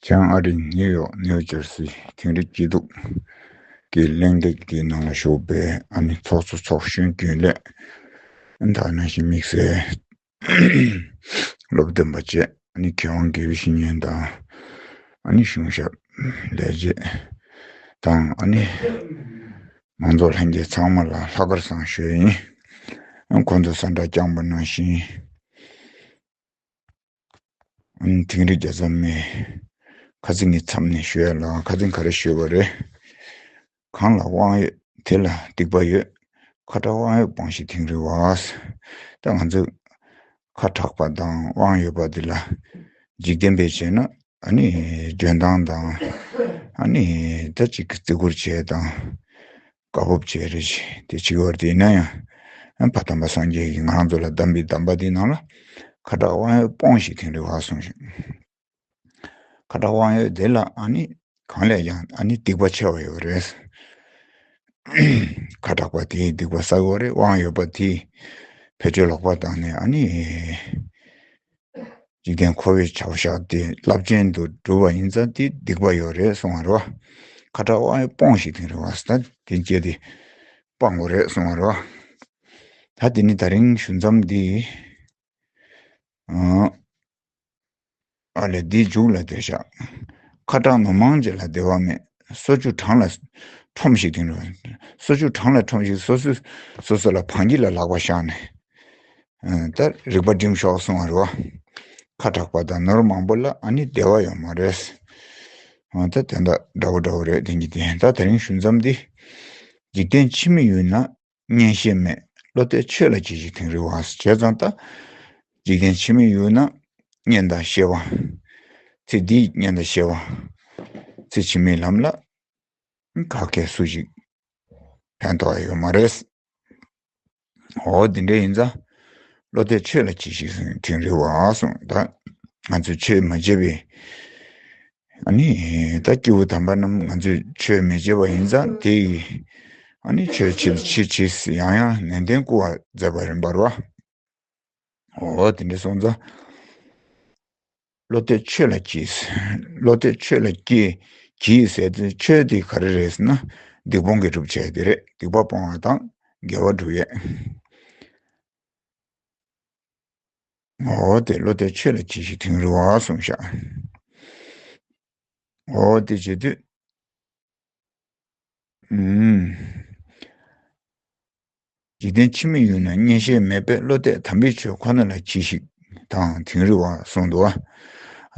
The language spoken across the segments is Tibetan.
བྱང་ཨ་རིའི་ནིའུ་ཡོག་ནིའུ་ཇར་སི་ཚན་རིག་སྐྱིད་སྡུག་གི་གླེང་སྟེགས་དེའི་ནང་ལ་ཞུགས་པའི་ཨ་ནེ་ཚོགས་གཙོ་ཚོགས་གཞོན་རྒྱུན་ལས་དར་ནང་བཞིན་དམིགས་བསལ་སློབ་སྟོན་པ་བཅས་ཨ་ནེ་ཁེ་དབང་དགེ་བའི་བཤེས་གཉེན་དང་ཨ་ནེ་གཞུང་ཞབས་ལས་བྱེད་དང་ཨ་ནེ་མང་ཚོགས་ལྷན་རྒྱས་ཚང་མ་ལ་ལྷག་དཀར་བཟང་ཞུ་ཡིན་ཁོང་ཚོས་ས་འདྲ་བསྐྱངས་པ་ནང་བཞིན། དིང་རི་རྒྱ་ཚ་མས། ཁ་རྩི་ངའི་མཚམས་ནས་བཤོལ་ལ་ཁ་རྩི་ག་རེ་བཤོལ་བ་རེད། གང་ལ་དབང་ཡོད་དེ་ལ་སྡིག་པ་ཡོད། ཁ་གྲགས་དབང་ཡོད་སྤངས་ཤིག་དིང་རི་བ། ད་ང་ཚོས་ཁ་གྲགས་པ་དང་དབང་ཡོད་པ་འདི་ལ་འཇིག་རྟེན་པས་བྱས་ན་ཨ་ནི་འཇོན་ཐང་དང་ཨ་ནི་ད་ཅིག་གི་བརྩི་བཀུར་བྱས་དང། བཀའ་བབས་བཅས་རེ་བྱས་ཏེ་བྱིས་བར་དེས་ན་ཡང་བ་དམ་པ་སངས་རྒྱས་ཀྱི་ངང་ཚུལ་ལ་གདམས་པའི་གདམས་པ་དེ་ནང་ལ་ཁ་དྲག་དབང་ཡོད་སྤོངས་ཤིག་ཐེངས་རེ་བ་གསུངས་ཤིང། ཁ་དྲག་དབང་ཡོད་དེ་ལ་ཨ་ནི་གང་ལས་ཀྱང་ཨ་ནི་སྡིག་པ་ཆེ་བ་ཡོད་རེད། ཁ་དྲག་པ་དེས་སྡིག་པ་བསགས་ཡོད་རེད་དབང་ཡོད་པ་དེས་བེད་སྤྱོད་ལོག་པ་བཏང་ནས་ཨ་ནི། འཇིག་རྟེན་འཁོར་བའི་བྱ་བ་བཞག་སྟེ་རླབས་ཆེན་དུ་འགྲོ་བ་ཡིན་ཙང་དེ་སྡིག་པ་ཡོད་རེད་གསུང་བ་རེད་བ། ཁ་དྲག་དབང་ཡོད་སྤོངས་ཤིག་དེང་རིང་བ་སྟ་དེ་བཅད་དེ་སྤང་དགོས་རེད་གསུང་བ་རེད་བ། ད་དེ་ནི་ད་རིང་ཞུ་མཚམས་འདི། ཨ་ལས་འདི་འཇུག་ལ་འདོད་ཤག། ཁ་དྲག་ནོར་མང་བྱས་ལ་བདེ་བ་མེད་སོ་ཆུ་གྲང་ལ་ཁྲོམ་ཤིག་དེང་རིང་བ། སོ་ཆུ་གྲང་ལ་ཁྲོམ་ཤིག་སོ་སོས་སོ་སོ་ལ་བང་ཁྱི་ལ་ལག་པ་བཞག་ནས། ད་རིག་པ་སྒྲིམ་ཤོག་གསུང་བ་རེད་བ། ཁ་གྲགས་པ་དང་ནོར་མང་པོ་ལ་ཨ་ནི་བདེ་བ་ཡོད་མ་རེད། ད་དེ་འདྲ་འདྲ་བོ་འདྲ་བོ་རེད་དེང་གི་དེ་ད་དེ་རིང་ཞུ་མཚམས་འདི། འཇིག་རྟེན་ཕྱི་མི་ཡུལ་ན་གཉེན་བཤེས་མེད་བློ་གཏད་ཆོས་ལ་གྱིས་ཤིག་དེང་རི་བ་ཟེར་བྱས་ཙང་ད། འཇིག་རྟེན་ཕྱི་མི་ཡུལ་ན་གཉེན་དང་བཤེས་བ། ཚེ་འདིའི་གཉེན་དང་བཤེས་བ། ཚེ་ཕྱི་མའི་ལམ་ལ། ཁ་སྐད་སུ་ཞིག་ཕན་ཐོག་ཡོད་མ་རེད། ཨོ་དེ་འདྲ་ཡིན་ཙང་བློ་གཏད་ཆོས་ལ་གྱིས་ཤིག་ཟེར་དུས་རེ་བ་སོང་ད་ང་ཚོས་ཆོས་མ་བྱས་པའི་ཨ་ནི་ད་སྐྱེ་བོ་དམ་པ་རྣམས་ང་ཚོས་ཆོས་མི་བྱེད་པ་ཡིན་ཙང་དེ་ཡིས་ཨ་ནི་ཆོས་བྱེད་ཕྱིར་ཕྱིས་ཡང་ཡང་ནན་ཏན་བསྐུལ་བ་མཛད་པ་རིན་པར་བ་ཨོ་དེ་འདྲ་སོང་ཙང། བློ་གཏོད་ཆོས་ལ་གྱིས། བློ་གཏོད་ཆོས་ལ་གྱིས། གྱིས་ཟེར་དུས་ཆོས་དེ་ག་རེ་རེད་ཟེར་ན། སྡིག་སྤོང་གི་སྒྲུབ་བྱེད་དེ་རེད། སྡིག་པ་སྤོང་བ་དང་དགེ་བ་སྒྲུབ་ཡས། ངོ་བོ་དེ་བློ་གཏོད་ཆོས་ལ་གྱིས་ཤིག་དིང་རི་བ་གསུངས་ཤག། ངོ་བོ་དེ་བྱེད་དུས། འཇིག་རྟེན་ཕྱི་མི་ཡུལ་ན་གཉེན་ཞལ་མེད་པའི་བློ་གཏད་དམ་པའི་ཆོས་ཁོ་ན་ལ་གྱིས་ཤིག། དང་དིང་རི་བ་གསུང་དུ།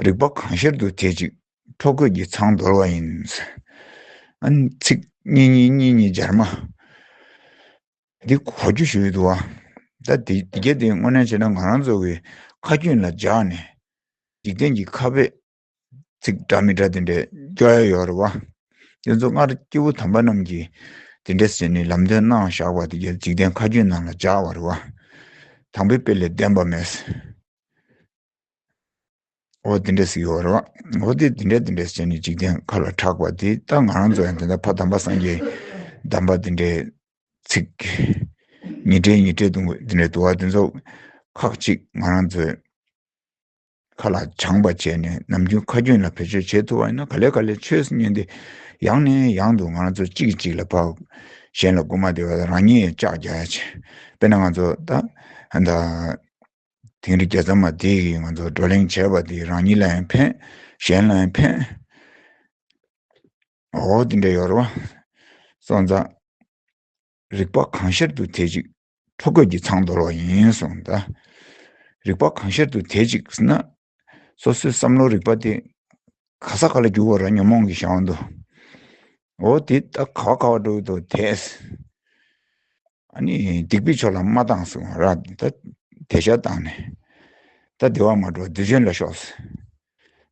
རིག་པ་གང་ཤར་དུ་དེ་ཅིག། འཕྲོ་རྒོད་ཀྱི་ཚང་འདོར་བ་ཡིན། ཚིག། གཉིས་གཉིས་གཉིས་གཉིས་སྦྱར་མ། འདི་གོ་རྒྱུ་ཞུས་དུ། ད་དེ་རྒྱ་དེ་དངོས་གནས་བྱས་ན་ང་རང་ཚོ་བའི་ཁ་རྒྱུན་ལ་འཇགས་ནས། འཇིག་རྟེན་གྱི་ཁ་བས། ཚིག་འདྲ་མི་འདྲ་དེ་འདྲའི་སྐྱོ་ཡ་ཡོད་རེད་བ། དེ་ཚོ་སྔར་སྐྱེ་བོ་དམ་པ་རྣམས་ཀྱིས་དེ་འདྲའི་ཟེར་ནས་ལམ་སྟོན་གནང་བཞག་པ་དེ་འཇིག་རྟེན་མཁའ་སྤྱོད་ནང་ལ་བཞག་བ་རེད་བ། དང་པོའི་དཔེ་ལས་བདེན་པ་མེད། འོ་དེ་འདྲས་ཟིག་ཡོད་རེད་བ། འོ་དེ་དེ་འདྲས་དེ་འདྲས་ཟེར་ནས་འཇིག་རྟེན་མཁའ་ལ་གྲགས་པ་དེ་ལྟ་ང་རང་ཚོ་ཡང་དེ་ལྟར་ཕ་དམ་པ་སངས་རྒྱས་གདམས་པ་དེ་འདྲའི་ཚིག་ཉིས་འགྲེལ་ཉིས་འགྲེལ་དུ་དེ་འདྲའི་དུ་བ་དེ་ཚོ་ཁག་གཅིག་ང་རང་ཚོའི། མཁའ་ལ་སྦྱངས་པ་བྱས་ནས་ནམ་རྒྱུན་ཁ་རྒྱུན་ལ་བེད་སྤྱོད་བྱེད་ཐུབ་པ་ཡིན་ན་ག་ལེ་ག་ལེ་ཆོས་ཉན་ཏེ་ཡང་ནས་ཡང་དུ་ང་ཚོ་གཅིག་གིས་གཅིག་ལ་བབས། གཞན་ལ་སྐུར་མ་འདེབས་པ་དང་རང་ཉིད་ཅག་བརྒྱ་ཡ་བྱེད། དཔེར་ན་ང་ཚོ་ད་ད། དིང་རི་རྒྱལ་མཚམས་མ་དེ་གིས་ང་ཚོར་བགྲོ་གླེང་བྱས་པ་དེས་རང་ཉིད་ལ་ཡང་ཕན། གཞན་ལ་ཡང་ཕན། འོ་དེ་འདྲ་ཡོད་རེད་བ། སོང་ཙང། རིག་པ་གང་ཤར་དུ་དེ་གཅིག་ཁྲོ་རྒོད་ཀྱི་ཚང་འདོར་བ་ཡིན་སོང་ད། རིག་པ་གང་ཤར་དུ་དེ་གཅིག་ཟེར་ན། སོ་སོའི་བསམ་བློ་རིག་པ་དེ་ག་ས་ག་ལ་འགྱུར་བ་ར་ཉོན་མོངས་ཀྱི་ཞག་འདུ། འོ་དེ་ད་ག་བ་ག་བ་འགྲོ་གི་འདུག་དེས། ཨ་ནི་སྡིག་པའི་ཕྱོགས་ལ་མ་བཏང་སོང་ར་ད་དེ་ཤ་བཏང་ནས། ད་བདེ་བ་མ་འགྲོ་བདུད་ཆེན་ལ་ཤོག།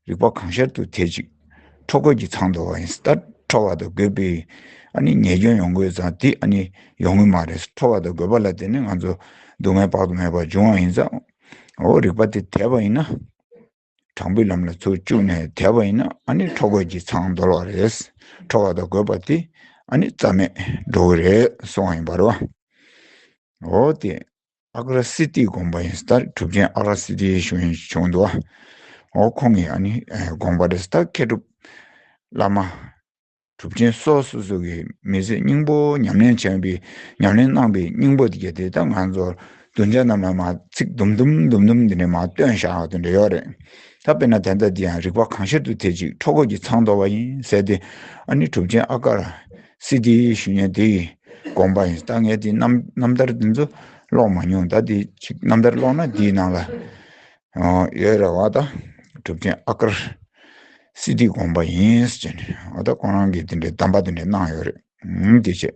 རིག་པ་གང་ཤར་དུ་ཐལ་ཅིག། འཕྲོ་རྒོད་ཀྱི་ཚང་དུ་བ་ཡིན་ད། འཕྲོ་བ་དང་རྒོད་པའི་ཨ་ནི་ཉེས་སྐྱོན་ཡོང་དགོས་ཙང་དེ་ཨ་ནི་ཡོང་ངེས་མ་རེད། འཕྲོ་བ་དང་རྒོད་པ་ལ་བརྟེན་ནས་ང་ཚོ་སྡུག་བསྔལ་དཔག་ཏུ་མེད་པ་འབྱུང་བ་ཡིན་ཙང། འོ་རིག་པ་དེ་དལ་བ་ཡིན་ན། དྲང་པོའི་ལམ་ལ་ཚུར་བཅུག་ནས་དལ་བ་ཡིན་ན་ཨ་ནི་འཕྲོ་རྒོད་ཀྱི་ཚང་འདོར་བ་རེད། འཕྲོ་བ་དང་རྒོད་པ་དེ་ཨ་ནི་རྩ་མེད་འགྲོ་གི་རེད་གསུང་བ་ཡིན་པར་བ། འོ་དེ་ཨག་ར་སི་ཏིའི་དགོངས་པ་ཡིན་སྟབས་གྲུབ་ཆེན་ཨག་ར་སི་ཏིའི་ཞུ་ཡིན་བྱུང་འདུགའོ། ཁོང་གི་དགོངས་པ་རེད་སྟབས་མཁས་གྲུབ་བླ་མ། གྲུབ་ཆེན་སོགས་སོ་སོ་གིས་མི་ཚེ་སྙིང་པོ་ཉམས་ལེན་བྱས་པའི་ཉམས་ལེན་གནང་པའི་སྙིང་པོ་དེ་དེ་ལྟར་ང་ཚོར་གདུལ་བྱ་རྣམས་ལ་མ་ཚིག་དུམ་དུམ་དུམ་དུམ་འདི་འདྲས་མ་སྟོན་བཞག་དེ་འདྲས་ཡོད་རེད། ད་དཔེར་ན་དེ་ལྟར་འདི་ཡང་རིག་པ་གང་ཤར་དུ་དེ་གཅིག་འཕྲོ་འཁོར་གྱི་ཚང་དོར་བ་ཡིན་ཟེར་ཏེ། གྲུབ་ཆེན་ཨ་ཀ། སྲིད་དེའི་ཞུ་ཉན་དེ་ཡི་དགོངས་པ་ཡིན། ལྟ་ངན་དེ་རྣམས་ལྟར་འདི་ཚོ་ཀློག་མ་མྱོང་ད་དེ་ཅིག་རྣམ་ཐར་ཀློག་ན་དེའི་ནང་ལ་ཡོད་རེད་བ་ད་གྲུབ་ཆེན་ཨ་ཀར་སྲིད་དེའི་དགོངས་པ་ཡིན་ཟེར་ནས་བ་ད་ཁོང་རང་གིས་དེ་འདྲའི་གདམས་པ་དེ་འདྲ་གནང་ཡོད་རེད་དེ་བྱས།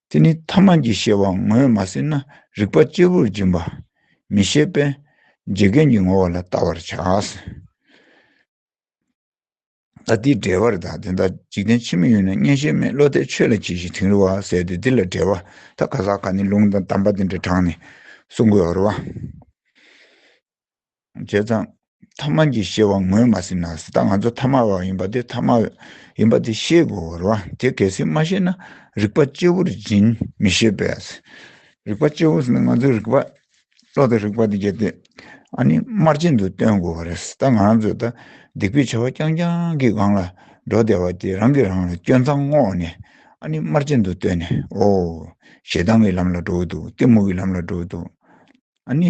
དེ་ནི་ཐ་མ་གྱི་ཤེས་པ་ངོས་མ་ཟིན་ན་རིག་པ་གཅེར་བུར་འབྱིན་པ་མི་ཤེས་པས་འཇིག་རྟེན་གྱི་ངོ་བོ་ལ་བལྟ་བར་བྱ། ད་ལྟའི་འགྲེལ་བར་དག་དེ་ལྟར་འཇིག་རྟེན་ཕྱི་མ་ཡུལ་ན་གཉེན་བཤེས་མེད་བློ་གཏད་ཆོས་ལ་གྱིས་ཤིག་དིང་རི་བ་ཟེར་ཏེ་འདི་ལ་འགྲེལ་བ་ད་ག་ཟག་ག་ནི་ལུང་དང་གདམས་པ་འདི་འདྲ་དྲངས་ནས་གསུང་དགོས་བར་བ། བྱས་ཙང། ཐ་མལ་གྱི་ཤེས་བ་ངོས་མ་ཟིན་ན་ཟིན་ད་ང་ཚོ་ཐ་མལ་བ་ཡིན་པ་དེ་ཐ་མལ་ཡིན་པ་དེ་ཤེས་དགོས་བར་བ་དེ་གལ་སྲིད་མ་ཤེས་ན་རིག་པ་གཅེར་བུར་འཛིན་མི་ཤེས་པས་རིག་པ་གཅེར་བུ་ཟིན་ན་ང་ཚོའི་རིག་པ་བློ་དང་རིག་པ་དང་རྒྱབ་རྟེན་ཨཱ་ནི་དམར་རྗེན་དུ་སྟོན་དགོས་པ་རེད། ད་ང་རང་ཚོས་ད་སྡིག་པའི་བྱ་བ་རྐྱང་རྐྱང་གི་སྒང་ལ་འགྲོ་བསྡད་པ་དེ་རང་གིས་རང་ལ་སྐྱོན་མཚང་བསྔོགས་ནས་ཨཱ་ནི་དམར་རྗེན་དུ་སྟོན་ནས་ཨོ། ཞེ་སྡང་གི་ལམ་ལ་འགྲོ་འོས་འདུག་གཏི་མུག་གི་ལམ་ལ་འགྲོ་འོས་འདུག་ཨཱ་ནི།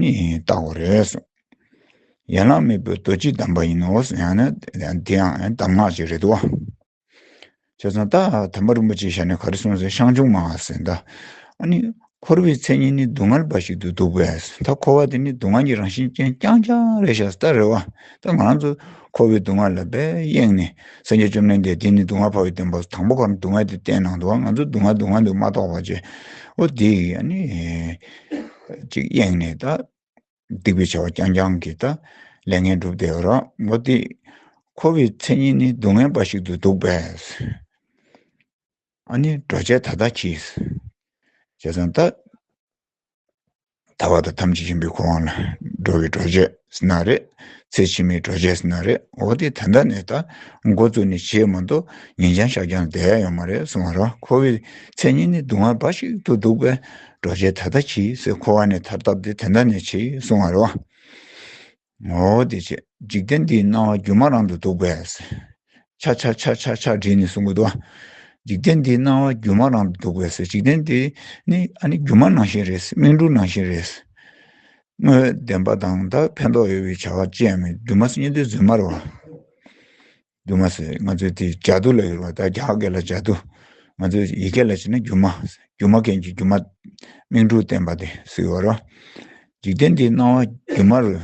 ནི་བཏགས་པ་རེད། ཡན་ལག་མེད་པའི་རྡོ་རྗེ་བསྡམས་པ་ཡིན་ནོ། དེ་ཡང་གདམས་ངག་ཅིག་རེད་དོ། བྱས་ཙང་ད་དམ་པ་རིན་པོ་ཆེའི་ཞལ་ནས་ག་རེ་གསུངས་ཟེར་ཤངས་ཆུང་མ་ཟེར་ད། ནི་འཁོར་བའི་མཚན་ཉིད་ནི་སྡུག་བསྔལ་འབའ་ཞིག་ཏུ་འདུག་པས་ད་འཁོར་བ་དེ་ནི་སྡུག་བསྔལ་གྱི་རང་བཞིན་ཅན་རྐྱང་རྐྱང་རེད་ཤག་སྟ་རེད་བ། ད་ང་རང་ཚོ་འཁོར་བའི་སྡུག་བསྔལ་ལ་བས་གཡེངས་ནས་སངས་རྒྱས་བཅོམ་ལྡན་འདས་དེ་ནི་སྡུག་བསྔལ་འཕགས་པའི་བསྟན་པ་དང་པོ་གང་སྡུག་བསྔལ་དེ་བསྟན་གནང་འདུག་བ་ང་ཚོ་སྡུག་བསྔལ་སྡུག་བསྔལ་འདུག་མ་གཏོགས་པ་ཅི། འོ་དེ་ཡི་ནི། གཅིག་གཡེངས་ནས་ད་སྡིག་པའི་བྱ་བ་རྐྱང་རྐྱང་གིས་ད་ལས་ངན་བསྒྲུབས་བསྡད་ཀྱི་རོགས་མོ་དེ། འཁོར་བའི་མཚན་ཉིད་ནི་སྡུག་བསྔལ་འབའ་ཞིག་ཏུ་འདུག་པས། ཨཱ་ནི་འགྲོ་བྱེད་ད་ལྟ་གྱིས། བྱས་ཙང་ད། ད་བར་དུ་ཐམས་ཅད་ཡིན་པའི་འཁོར་དབང་ལ་འགྲོ་བའི་འགྲོ་བྱེད། ས་ན་རེད། ཚེ་ཕྱི་མའི་གྲོ་ཆས་ས་ན་རེད་འོ་དེ་ད་ལྟ་ནས་ད་འགོ་བཙུགས་ནས་བྱེད་མ་འདུག་ཉིན་འགྱངས་ཞག་འགྱངས་བསྡད་ཡོང་མ་རེད་སོང་བ་རང་ཁོ་བོའི་མཚན་སྙན་ནི་སྡུག་བསྔལ་འབའ་ཞིག་ཏུ་འདུག་པས་གྲོ་ཆས་ད་ལྟ་བྱིས་ཟེར་ཁོ་བ་ནས་ཐར་ཐབས་དེ་དེ་འདྲ་ནས་བྱེད་སོང་བ་རེད་བ། འོ་དེ་བྱེད། འཇིག་རྟེན་འདིའི་སྣང་བ་སྒྱུ་མ་རང་དུ་འདུག་པས། ཆག་ཆག་ཆག་ཆག་ཆག་བྲིས་ནས་གསུང་གི་འདུག་འཇིག་རྟེན་འདིའི་སྣང་བ་སྒྱུ་མ་རང་དུ་འདུག་པས་འཇིག་རྟེན་འདི་ནི་ཨ་ནི་སྒྱུ་མ་ནང་བཞིན་རེད་སྨིན་དྲུག་ནང་བཞིན་རེད། དངོས་བདེན་པ་དང་དག་ཕན་འདོགས་ཡོད་པའི་བྱ་བ་སྤྱད་མོད་རྒྱུ་མ་སྙེ་འདོད་རྫུན་སྨྲར་བ། རྒྱུ་མ་ང་ཚོའི་དེ་ལྗགས་རྡུལ་ལ་ཡོད་པ་དག་རྒྱ་སྐད་ལ་ལྗགས་རྡུལ་ང་ཚོའི་ཡི་གེ་ལ་བྱས་ན་རྒྱུ་མ། རྒྱུ་མ་མཁན་གྱི་རྒྱུ་མ་སྨིན་དྲུག་བསྟན་པ་དེ་སུའི་བར། འཇིག་རྟེན་འདིའི་སྣང་བ་སྒྱུ་མ་རུ་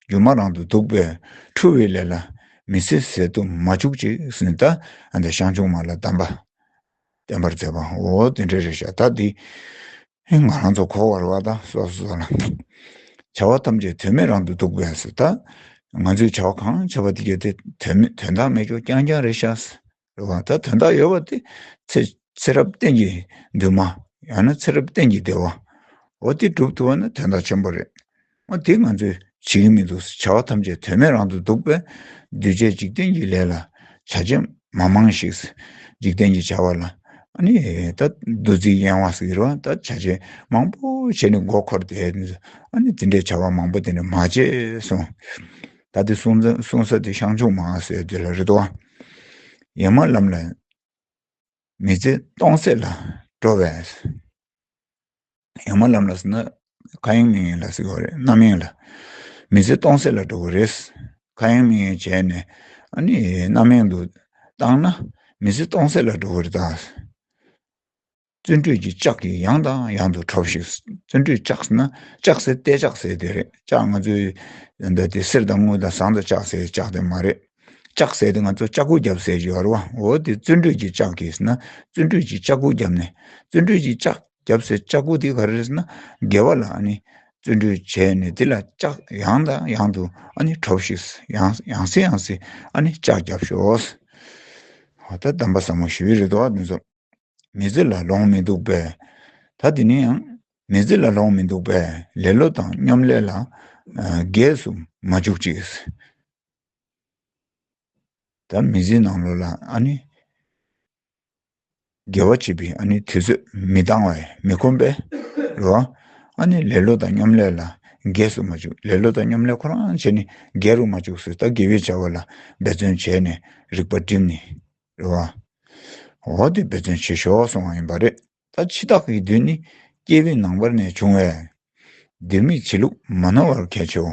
སྒྱུ་མ་རང་དུ་འདུག་པས་འཁྲུལ་བའི་ལས་ལ་མི་ཟེར་ཟེར་དུ་མ་བཅུག་ཅིག་ཟིན་ད་ཨ་འདི་ཤངས་ཆུང་མ་ལ་གདམས་པ་བསྟན་པར་མཛད་པའང་འོ་དེ་འདྲའི་རེ་བཞག་ད་འདི་ཨེ་ང་རང་ཚོ་འཁོར་བར་བ་ད་སོ་སོ་ལ་བྱ་བ་ཐམས་ཅད་དོན་མེད་རང་དུ་འདུག་པས་སོ་ད་ང་ཚོས་བྱ་བ་གང་བྱ་བ་དེ་བརྒྱད་དེ་དོན་མེད་དོན་དག་མེད་ཀྱོ་རྐྱང་རྐྱང་རེ་བཞག་སོ་རེ་བ་ད་དོན་དག་ཡོད་པ་དེ་ཚེ་ཚེ་རབས་གཏན་གྱི་འདུན་མ་ཡང་ན་ཚེ་རབས་གཏན་གྱི་བདེ་བའོ་དེ་འགྲུབ་ཐུབ་པ་ན་དོན་དག་ཆེན་པོ་རེད། ཨ་དེ་ང་ཚོས་བྱེད་ཀྱི་མི་འདུག་བྱ་བ་ཐམས་ཅད་དོན་མེད་རང་དུ་འདུག་པས། འདུས་བྱས་འཇིག་རྟེན་གྱི་ལས་ལ་བྱ་བྱེད་མ་མང་ཞིག། འཇིག་རྟེན་གྱི་བྱ་བ་ལ་ནི་ད་བདུད་རྩིའི་གཡེང་བ་ཟེར་བ་ལྟར་བྱ་བྱེད་མང་པོ་བྱས་ནས་མགོ་འཁོར་ཏེ། དེ་འདྲའི་བྱ་བ་མང་པོ་དེ་འདྲ་མ་བྱེད་གསུང། ད་དེ་གསུང་ས་དེ་ཤངས་ཆུང་མ་ཟེར་དེ་ལ་རེ་དོ། ཡེངས་མ་ལམ་ལ། མི་ཚེ་སྟོང་ཟད་ལ་འགྲོ་བས། ཡང་མ་ལམ་ལ་ཟེར་ན་ཁ་ཡེངས་མིག་ཡེངས་ལ་ཟེར་བ་རེད་རྣམ་ཡེངས་ལ། མི་ཚེ་སྟོང་ཟད་ལ་འགྲོ་བ་རེད། ཁ་ཡེངས་མིག་ཡེངས་བྱས་ནས་ཨ་ནི་རྣམ་ཡེངས་དུ་བཏང་ན་མི་ཚེ་སྟོང་ཟད་ལ་འགྲོ་བ་རེད་ད། བརྩོན་འགྲུས་ཀྱི་ལྕག་གིས་ཡང་དང་ཡང་དུ་ཁྲོ་ཞིག་བརྩོན་འགྲུས་ལྕག་ཟེར་ན་ལྕག་ཟེར་ཏེ་ལྕག་ཟེར་དེ་རེད་ལྕག་ང་ཚོའི་འདི་ལྟའི་གསེར་དང་དངུལ་དང་ཟངས་དང་ལྕགས་ཟེར་ལྕག་དེ་མ་རེད། ལྕགས་ཟེར་ཏེ་ང་ཚོ་ལྕགས་སྐུད་བརྒྱབ་ཟེར་གྱི་ཡོད་རེད་བ་འོ་དེ་བརྩོན་འགྲུས་ཀྱིས་ལྕགས་གིས་ཟེར་ན་བརྩོན་འགྲུས་ཀྱིས་ལྕགས་སྐུད་བརྒྱབ་ནས་བརྩོན་འགྲུས་ཀྱིས་ལྕགས་བརྒྱབ་ཟེར་ལྕགས་སྐུད་དེ་ག་རེ་རེད་ཟེར་ན་དགེ་བ་ལ་ཨ་ནི་བརྩོན་འགྲུས་བྱས་ནས་དེ་ལ་ལྕགས་ཡང་དང་ཡང་དུ་ཨ་ནི་གྲོ་བཞིན་ཡང་ཡང་སེ་ཡང་སེ་ཨ་ནི་ལྕགས་བརྒྱབ་ཤོག་ཨོ་ད་གདམས་པ་བཟང་མོ་ཞུས་རེད་བ་འདི་ཚོ་མི་ཚེ་ལ་ལོང་མི་འདུག་པས་ད་དེ་ནས་ཡང་མི་ཚེ་ལ་ལོང་མི་འདུག་པས་ལེ་ལོ་དང་སྙོམ་ལས་ལ་རྒས་སུ་མ་བཅུག་ཅིག། ད་མི་ཚེའི་ནང་ལོ་ལ་ཨ་ནི། དགེ་བ་བྱེད་པའི་ཨ་ནི་དུས་ཚོད་མི་འདང་བས་མི་ཁོམ་པས། ལོ་ཨ་ནི་ལེ་ལོ་དང་སྙོམ་ལས་ལ་འགས་སུ་མ་བཅུག་ལེ་ལོ་དང་སྙོམ་ལས་ཁོ་རང་བྱས་ནས་འགས་རུ་མ་བཅུག་སོས་ད་དགེ་བའི་བྱ་བ་ལ་འབད་བརྩོན་བྱས་ནས་རིག་པ་བསྒྲིམས་ནས། ལོ་ཨ་འོ་དེ་འབད་བརྩོན་བྱེད་ཞོག་གསུང་བ་ཡིན་པ་རེད། ད་འཆི་བདག་གི་དུས་ནི་སྐྱེས་བུའི་ནང་པར་ནས་བྱུང་བས། འདིར་མི་འཆི་ལུགས་མ་ནོར་བར་གལ་ཆེའོ།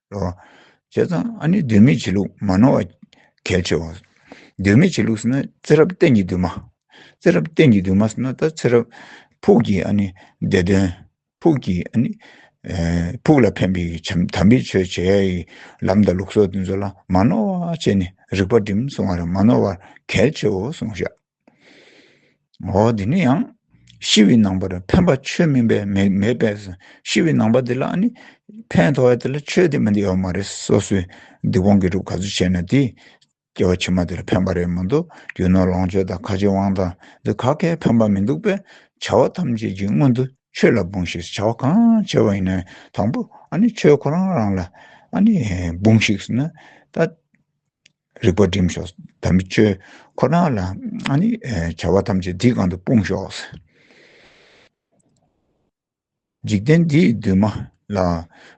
རོ། བྱས་ཙང་ཨ་ནི་འདོད་མི་བྱེད་ལུགས་མ་ནོར་བ་གལ་ཆེ་བ། འདོད་མི་བྱེད་ལུགས་ཟེར་ན་ཚེ་རབས་གཏན་གྱི་འདུན་མ། ཚེ་རབས་གཏན་གྱི་འདུན་མ་ཟེར་ན་ད་ཚེ་རབས་ཕུགས་ཀྱི་ཨ་ནི་བདེ་དོན། ཕུགས་ཀྱི་ཨ་ནི། ཕུགས་ལ་ཕན་པའི་བྱམས་དམ་པའི་ཆོས་བྱེད་ཡ་ཡི་ལམ་དང་ལུགས་སོགས་དེ་ཚོ་ལ་མ་ནོར་བ་བྱས་ནས་རིག་པ་སྒྲིམ་སོང་བ་རེད་མ་ནོར་བ་གལ་ཆེའོ་གསུངས་བཞག། ཨོ་དེ་ནི་ཡང་ཤི་བའི་ནང་པར་ཕན་པ་ཆོས་མིན་པས་མེད་པས་ཤི་བའི་ནང་པ་དེ་ལ་ནི་ཕན་ཐོགས་ཡ་དེ་ལ་ཆོས་དེ་མི་འདི་ཡོད་མ་རེད་སོ་སོའི་སྡིག་སྤོང་གི་རུབ་ག་ཚོད་བྱས་ན་དེས་སྐྱེ་བ་ཕྱི་མ་དེར་ཕན་པ་རེད་མི་འདུག་རྒྱུ་ནོར་ལོངས་སྤྱོད་དང་ཁ་ཆེ་དབང་ཐང་འདི་ག་གས་ཕན་པ་མི་འདུག་པས་བྱ་བ་ཐམས་ཅད་ཀྱི་སྔོན་དུ་ཆོས་ལ་འབུངས་ཤིག་བྱ་བ་གང་བྱས་པ་ཡིན་ན་དང་པོ་ཨ་ནི་ཆོས་ཁོ་རང་རང་ལ་ཨ་ནི་འབུངས་ཤིག་ཟེར་ན་ད། རིག་པ་བསྒྲིམས་ཤོག་ཟླ་མེད་ཆོས་ཁོ་ན་ལ་ནི་བྱ་བ་ཐམས་ཅད་འདིའི་གང་དུ་སྤུངས་ཤོག། འཇིག་རྟེན་འདིའི་འདུན་མ་ལ་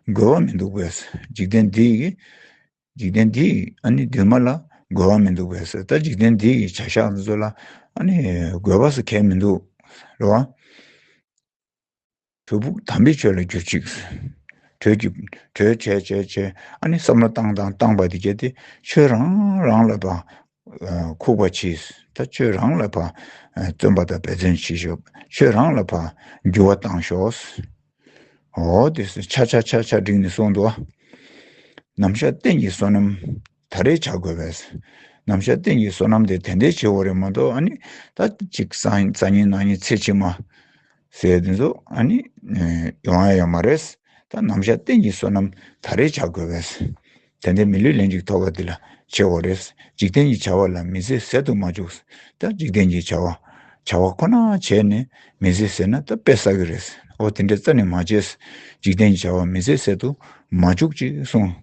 རྒོལ་བ་མི་འདུག་པས་འཇིག་རྟེན་འདིའི་འཇིག་རྟེན་འདིའི་འདུན་མ་ལ་རྒོལ་བ་མི་འདུག་པས་ད་འཇིག་རྟེན་འདིའི་བྱ་བཞག་འདི་ཚོ་ལ་རྒོལ་བ་སུ་གལ་མི་འདུག་རེད་བ། བུ་བུག་དམ་པའི་ཆོས་ལ་གྱུར་ཅིག། དྲོད་ཀྱི། དྲོད། བྱས་བྱས་བྱས། ཨ་ནི་བསམ་བློ་བཏང་བཏང་བཏང་བ་དེ་བརྒྱད་དེ་ཆོས་རང་རང་ལ་བ། ཁུག་པ་གྱིས་ད་ཆོས་རང་ལ་བ། བརྩོན་པ་དང་འབད་བརྩོན་བྱེད་ཤོག་ཆོས་རང་ལ་བ། འགྱུར་བ་བཏང་ཤོག། འོ་དེ་ཆ་ཆ་ཆ་ཆ་འགྲིག་ནས་སོང་འདུག་ཨ། ནམ་ཞག་གཏན་གྱི་བསོད་ནམས། ད་རེས་བྱ་དགོས་པས། ནམ་བཞག་སྟེང་གི་སོ་ནམ་དེ་དེ་འདྲའི་ཆེ་བོ་རེད་མ་གཏོགས་ཨ་ནི། ད་ཅིག་ས་ཉིན་ནང་ཉིན་ཚེ་ཕྱི་མ། ཟེར་དེ་ཚོ་ཨ་ནི། ཡོང་ཡ་ཡོད་མ་རེད། ད་ནམ་བཞག་སྟེང་གི་སོ་ནམ་ད་རེས་བྱ་དགོས་པས། དེ་འདྲའི་མི་ལུས་ལན་ཅིག་ཐོབ་པ་དེ་ལ་ཆེ་བོ་རེད། འཇིག་རྟེན་གྱི་བྱ་བ་ལ་མི་ཟེར་ཟེར་དུ་མ་བཅུག། ད་འཇིག་རྟེན་གྱི་བྱ་བ། བྱ་བ་ཁོ་ན་བྱས་ནས་མི་ཟེར་ཟེར་ན་ད་དཔེ་ཟ་གི་རེད། འོ་དེ་འདྲའི་རྩ་ནས་མ་བྱས། འཇིག་རྟེན་གྱི་བྱ་བ་མི་ཟེར་ཟེར་དུ་མ་བཅུག་ཅེས་གསུངས།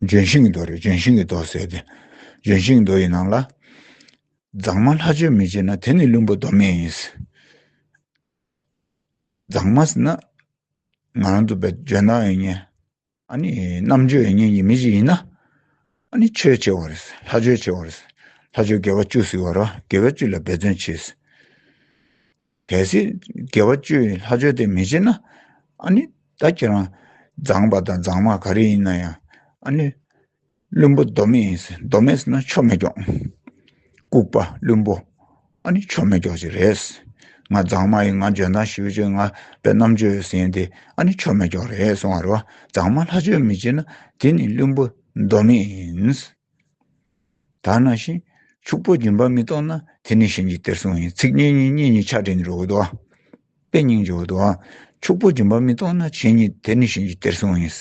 ལྗོན་ཤིང་གི་རྡོ་རེད་ལྗོན་ཤིང་གི་རྡོ་ཟེར་ཏེ། ལྗོན་ཤིང་གི་རྡོ་ཡི་ནང་ལ། མཛངས་མ་ལྷ་ཆོས་མི་བྱེད་ན་དེ་ནི་བླུན་པོ་མདོ་སྨད་ཡིན། མཛངས་མ་ཟེར་ན། ང་རང་ཚོ་བོད་ལྗོན་ནག་ཡིན་ངེས། ཨ་ནི་རྣམ་དཔྱོད་ཡིན་ངེས་ཀྱི་མི་ཞིག་ཡིན་ན། ཨ་ནི་ཆོས་བྱེད་བ་རེད། ལྷ་ཆོས་བྱེད་བ་རེད། ལྷ་ཆོས་དགེ་བ་བཅུ་གཟིགས་བ་ར་དགེ་བ་བཅུ་ལ་འབད་བརྩོན་བྱས། གལ་སྲིད་དགེ་བ་བཅུའི་ལྷ་ཆོས་དེ་མི་བྱེད་ན་ཨ་ནི་ད་ཁྱེད་རང་མཛངས་པ་དང་མཛངས་མ་ག་རེ་ཡིན་ན་ཡང་ཨ་ནི་བླུན་པོ་མདོ་མེད་ཡིན་སྲིད་མདོ་མེད་ཟེར་ན་ཆོ་མེད་སྐྱོགས། ལྐུགས་པ་བླུན་པོ་ཨ་ནི་ཆོ་མེད་སྐྱོགས་ཅིག་རེད། ང་མཛངས་མ་ཡིན་ང་འཇོན་ཐང་ཞིབ་ཅིང་ང་པའི་རྣམ་དཔྱོད་ཡོད་ཟེར་ཡིན་དེ་ཨ་ནི་ཆོ་མེད་སྐྱོགས་རེད་གསུང་བ་རེད་བ་མཛངས་མ་ལྷ་ཆོས་མི་བྱེད་ན་དེ་ནི་བླུན་པོ་མདོ་མེད་ཡིན། ད་ནང་བཞིན་ཕྱུག་པོ་སྦྱིན་པ་མི་གཏོང་ན་དེ་ནི་གཞན་གྱི་གཏེར་སྲུང་ཡིན་ཚིག་གཉིས་གཉིས་གཉིས་གཉིས་ཆ་འདྲེས་ནི་རོ་བོ་དོ། དཔེ་རྙིང་རྗེ་བོ་དོ། ཕྱུག་པོ་སྦྱིན་པ་མི་གཏོང་ན་བྱས་ཉིད་དེ་ནི་གཞན་གྱི་གཏེར་སྲུང་ཡིན།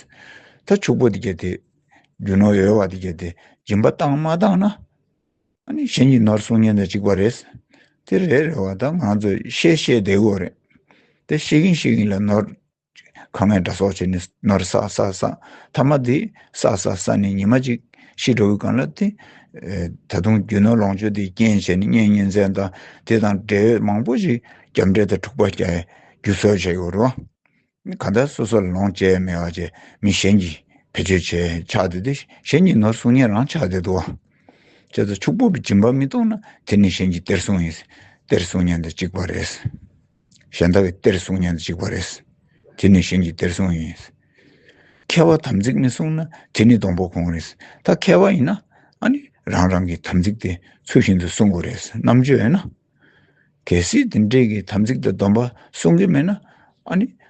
ད་ཕྱུག་པོ་དེ་བརྒྱད་དེ། རྒྱུ་ནོར་ཡོད་བ་དེ་བརྒྱད་དེ་སྦྱིན་པ་བཏང་མ་བཏང་ན། ནི་གཞན་གྱི་ནོར་སྲུང་ཉིན་དང་གཅིག་པ་རེད། དེ་རེད་རེད་བ་ད་ང་ཚོས་བཤད་བཤད་བདེ་བོ་རེད། དེ་བཤད་གིན་བཤད་གིན་ལ་ནོར་ཁ་ངན་སྒྲ་སོགས་བྱས་ནས་ནོར་སག་སག་སག་ཐ་མ་དེ་སག་སག་སག་ནས་ཉི་མ་གཅིག་ཤི་འགྲོ་བའི་གང་ལ་དེ། ད་དུང་རྒྱུ་ནོར་ལོངས་སྤྱོད་དེ་རྐྱེན་བྱས་ནས་གཉེན་ཉེ་ཚན་དང་དེ་དང་འབྲེལ་ཡོད་མང་པོ་ཞིག་རྒྱབ་འབྲེལ་དང་འཁྲུག་པ་བསྐྱལ་རྒྱུ་སོགས་བྱས་ཡོད་རུང། གང་ལྟར་སོ་སོ་ལ་ལོངས་སྤྱད་མེད་བ་བྱས་མི་གཞན་གྱིས་བེད་སྤྱོད་བྱས་ཆགས་བསྡད་དེ་གཞན་གྱི་ནོར་སྲུང་ཉེན་རང་ཆགས་བསྡད་འདུག་བྱས་ཙང་ཕྱུག་པོ་གི་སྦྱིན་པ་མི་གཏོང་ན་དེ་ནི་གཞན་གྱི་གཏེར་སྲུང་ཡིན་གཏེར་སྲུང་ཉེན་དང་གཅིག་པ་རེད། གཞན་དག་གི་གཏེར་སྲུང་ཉོན་ཅིག་པ་རེད། དེ་ནི་གཞན་གྱི་གཏེར་སྲུང་ཡིན། མཁས་པ་དམ་ཚིག་མི་སྲུང་ན་དེ་ནི་སྡོང་པོ་གོང་རེད། ད་མཁས་པ་ཡིན་ན། རང་རང་གི་དམ་ཚིག་དེ་ཚུལ་བཞིན་དུ་སྲུང་དགོས་རེད་རྣམ་དཔྱོད་ཡོད་ན། གལ་སྲིད་དེ་འདྲས་ཀྱི་དམ་ཚིག་དང་སྡོམ་པ་སྲུང་གི་མེད་ན།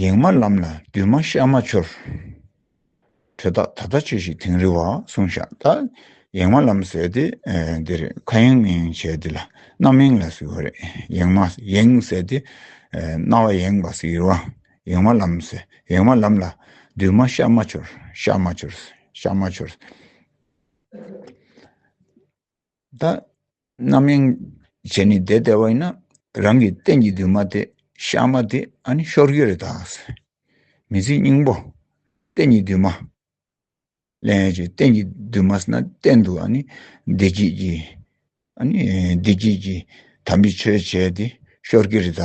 ཡེངས་མ་ལམ་ལ་འདུས་མ་ཤར་མ་འཆོར། དྲོད་རྟགས་ད་ལྟ་ཆོས་ཤིག་དིང་རི་བ་གསུང་བཞག་ད་ཡེངས་མ་ལམ་ཟེར་ཏེ་འདིར་ཁ་ཡེངས་མི་ཡེངས་བྱས་འདི་ལ་རྣམ་གཡེང་ལ་ཟེར་བ་རེད་ཡེངས་མ་ཡེངས་ཟེར་ཏེ་རྣ་བ་ཡེངས་པ་ཟེར་བ་ཡེངས་མ་ལམ་ཟེར་ཡེངས་མ་ལམ་ལ་འདུས་མ་ཤར་མ་འཆོར་ཤར་མ་འཆོར་ཤར་མ་འཆོར། བདག་རྣམ་གཡེང་བྱས་ནས་བསྡད་བསྡད་བ་ཡིན་ན་རང་གི་སྟེང་གི་འདུན་མ་དེ་ཤར་མ་དེ་ཨ་ནི་ཤོར་གི་རེད་ད། མི་ཚེའི་སྙིང་པོ་སྟེང་གི་འདུན་མ་ལེན་ཡོད་ཀྱི་སྟེང་གི་འདུན་མ་ཟེར་ན་གཏན་དུ་ཨ་ནི་བདེ་སྐྱིད་ཀྱི་ཨ་ནི་བདེ་སྐྱིད་ཀྱི་དམ་པའི་ཆོས་བྱས་ཏེ་ཤོར་གི་རེད་ད།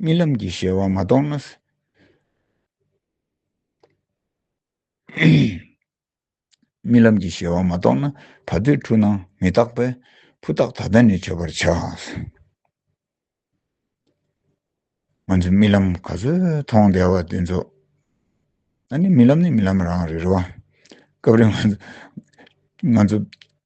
རྨི་ལམ་གྱི་ཞལ་བ་མ་རྟོགས་ན། རྨི་ལམ་གྱི་ཞལ་བ་མ་རྟོགས་ན་ད་གདོད་འཁྲུལ་སྣང་མི་རྟག་པས་ཕུ་ཐག་ད་ལྟ་ནས་ཆོད་པར་བྱ། ང་ཚོས་རྨི་ལམ་ག་ཚོད་མཐོང་བདེ་བ་དེ་ཚོ་ནི་རྨི་ལམ་ནི་རྨི་ལམ་རང་རེད་རེད་བ། སྐབས་རེ་ང་ཚོ་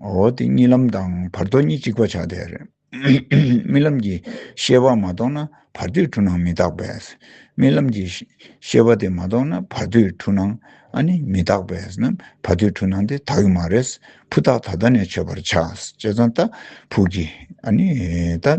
འོ་དེ་གཉིས་ལམ་དང་བར་དོ་གཉིས་གཅིག་པ་ཆགས་བསྡད་རེད། རྨི་ལམ་གྱི་ཤེས་པ་མ་གཏོགས་ན་བར་དོའི་འཁྲུལ་སྣང་མི་རྟག་པས། རྨི་ལམ་གྱི་ཤེས་པ་དེ་མ་གཏོགས་ན་བར་དོའི་འཁྲུལ་སྣང་ཨ་ནི་མི་རྟག་པས་ན་བར་དོའི་འཁྲུལ་སྣང་དེ་དག་གི་མ་རེད། ཕུ་ཐག་ད་ལྟ་ནས་ཆོད་པར་བྱ། ཅེས་ཙང་ཏཱ་ཕུག་གིས་ཨ་ནི་ད།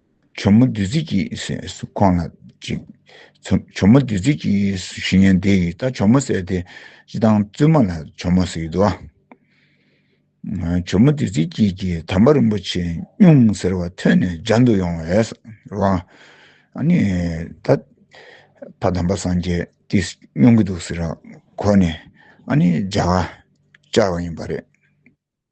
བྱུར་མོ་བདུད་རྩི་གྱིས་སུ་ཁོང་ལ་གཅིག། བྱུར་མོ་བདུད་རྩི་གྱིས་སུ་བཞི་ཉལ་འདི་ཡིས་ད་བྱུར་མོ་བསད་དེ་ཅི་དང་བཙུན་མ་ལ་བྱུར་མོ་ཟེར་གྱི་འདུག་ཨ། བྱུར་མོ་བདུད་རྩི་གྱིས་ཀྱིས་དམ་པ་རིན་པོ་ཆེ་སྨྱུང་ཟེར་བ་ཐོས་ནས་སྦྱར་འདུག་ཡོང་བས་རོ། ཨ་ནི་ད་ཕ་དམ་པ་སངས་རྒྱས་ཀྱིས་སྨྱུང་གི་འདུག་ཟེར་གོ་ནས་ཨ་ནི་སྦྱར་བ་བཅར་བ་ཡིན་པ་རེད།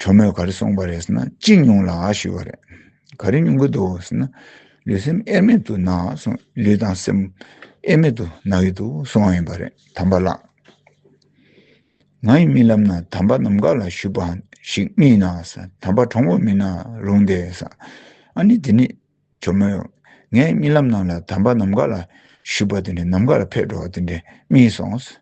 བུ་མོས་ག་རེ་གསུངས་པ་རེད་ཟེར་ན་ཅི་མྱོང་ལགས་ཞུས་པ་རེད། ག་རེ་མྱོང་གི་འདུག་ཟེར་ན་ལུས་སེམས་དབྱེར་མེད་དུ་ན་སོང་ལུས་དང་སེམས་དབྱེར་མེད་དུ་ན་གི་འདུག་གསུངས་བ་ཡིན་པ་རེད་དམ་པ་ལགས། ང་ཡི་རྨི་ལམ་ན་དམ་པ་ནམ་མཁའ་ལ་བཞུགས་པ་ཞིག་རྨིས་ན་དམ་པ་གྲོགས་མོ་མིན་ན་རུང་སྟེ་ཟ་ཨ་ནི་དེ་ནི་བུ་མོས་ངའི་རྨི་ལམ་ནང་ལ་དམ་པ་ནམ་མཁའ་ལ་བཞུགས་པ་དེ་འདྲ་ནམ་མཁའ་ལ་ཕེབས་འགྲོ་བ་དེ་འདྲ་རྨིས་སོང་ཟེར།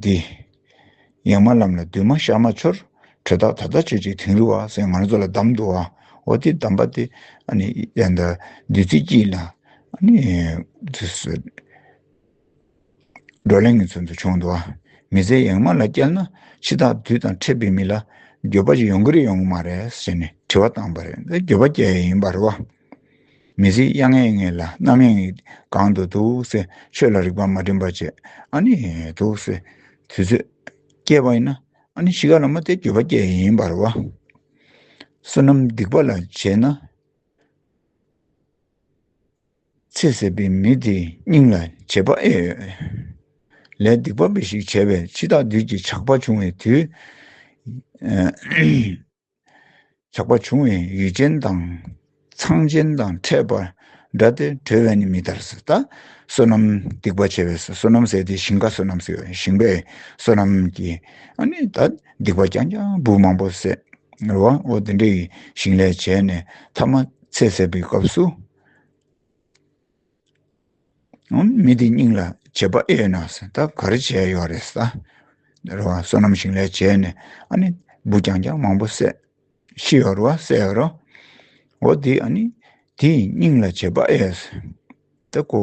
འདི། ཡང་མ་ལམ་ལ་འདུས་མ་ཤར་མ་འཆོར། དྲོད་རྟགས་ད་ལྟ་ཆོད་ཅིག་དིང་རི་བ། སེམས་ངལ་རྩོལ་ལ་གདམས་འདུག་ཨ། ཨོ་དེ་གདམས་པ་དེ། བདུད་རྩི་སྐྱིལ་ན། བགྲོ་གླེང་གི་ཚུལ་དུ་བྱུང་འདུག་ཨ། མི་ཚེ་ཡེངས་མ་ལ་བསྐྱལ་ན། འཆི་བདག་བདུད་དང་ཕྲད་པའི་མི་ལ། འགྱོད་པ་ཅིག་ཡོང་གི་རེད་ཡོང་གི་མ་རེད། ཞེས་ནས་དྲི་བ་བཏང་པ་རེད། འགྱོད་པ་སྐྱེ་ཡས་ཡིན་པ་རེད་བ། མི་གཟིགས་དབྱངས་ངེས་ངེས་ལ་རྣམ་གཡེང་གང་དུ་འདུག་སེ་ཆོས་ལ་རིག་པ་མ་བྲིན་པ་བྱེད་ཨ་ནི་འདུག་སེ་དུས་ཚོད་སྐྱེལ་བ་ཡིན་ན་ཨ་ནི་གཞིས་ཀ་ལ་མ་སྟེར་འགྱོད་པ་སྐྱེལ་ཡིན་ཡིན་པར་བ། བསོད་ནམས་སྡིག་པ་ལ་བྱེད་ན་ཚེ་ཟད་པའི་མི་དེའི་སྙིང་ལ་བྱེད་པ་ཨེ་ཡོད། ལས་སྡིག་པ་འབའ་ཞིག་བྱས་པས་འཆི་བདག་བདུད་ཀྱི་ཆགས་པ་བྱུང་བའི་དུས། ལྷག་པར་བྱུང་བའི་ཡུལ་ཅན་དང་ཚངས་ཅན་དང་ཕྲད་པ་འདྲ་སྟེ་གྲོལ་བས་ནི་མི་ཐར་ཟད་ལྟ། བསོད་ནམས་སྡིག་པ་བྱས་པས་བསོད་ནམས་ཟད་དེ་ཞིང་ཁ་བསོད་ནམས་ཟད་ཞིང་པས་བསོད་ནམས་ཀྱི་སྡིག་པ་རྐྱང་རྐྱང་བུ་མང་པོ་ཟད། བའོ། དེ་འདྲའི་ཞིང་ལས་བྱས་ནས་ཐ་མ་ཚེ་ཟད་པའི་སྐབས་སུ། མི་དེའི་སྙིང་ལ་བྱེད་པ་ཨེ་ཡོད་ན་ཟེར་ད་ག་རེ་བྱས་ཡོད་རེད་ཟེར། རེད་བ་བསོད་ནམས་ཞིང་ལས་བྱས་ནས་ཨ་ནི་འབུ་རྐྱང་རྐྱང་མང་པོ་བསད། ཤི་ཡོད་རེད་བ་བསད་ཡོད་རེད། འོ་དེ་ཨ་ནི་དེའི་སྙིང་ལ་བྱེད་པ་ཨེ་ཡོད་ཟེར། ད་ཀོ།